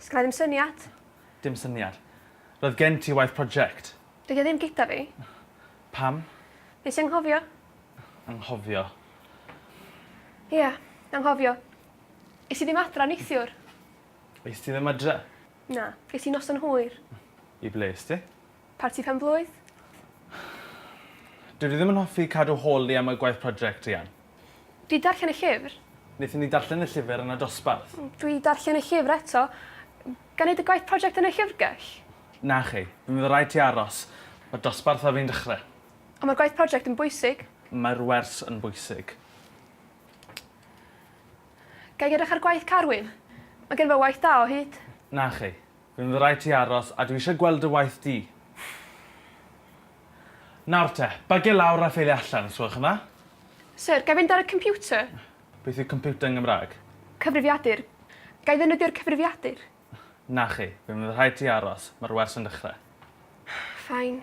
Sgynna i ddim syniad. Dim syniad. Roedd gen ti waith project. Dydi o ddim gyda fi. Pam? Nes i anghofio. Anghofio? Ia, anghofio. Es i ddim adra neithiwr. Es ti ddim adra? Na, ges i noson hwyr. I ble es ti? Parti pen-blwydd. Dw i ddim yn hoffi cadw holi am y gwaith project, Rhian. Dwi darllen y llyfr. Nethon ni darllen y llyfr yn y dosbarth. Dwi darllen y llyfr eto. Ga neud y gwaith project yn y llyfrgell? Na chi. Fe fydd raid ti aros. Mae dosbarth ar fin dechre. Ond mae'r gwaith project yn bwysig. Mae'r wers yn bwysig. Ga i edrych ar gwaith Carwyn? Mae gen fo waith da o hyd. Na chi. Fe fydd raid ti aros a dwi eisiau gweld dy waith di. Nawr te, bagiau lawr a ffeiliau allan, os gwelwch yn dda. Syr, ga i fynd ar y computer? Beth yw computer yn Gymraeg? Cyfrifiadur. Ga i ddefnyddio'r cyfrifiadur? Na chi. Fe fydd rhaid ti aros. Mae'r wers yn dechrau. Fine.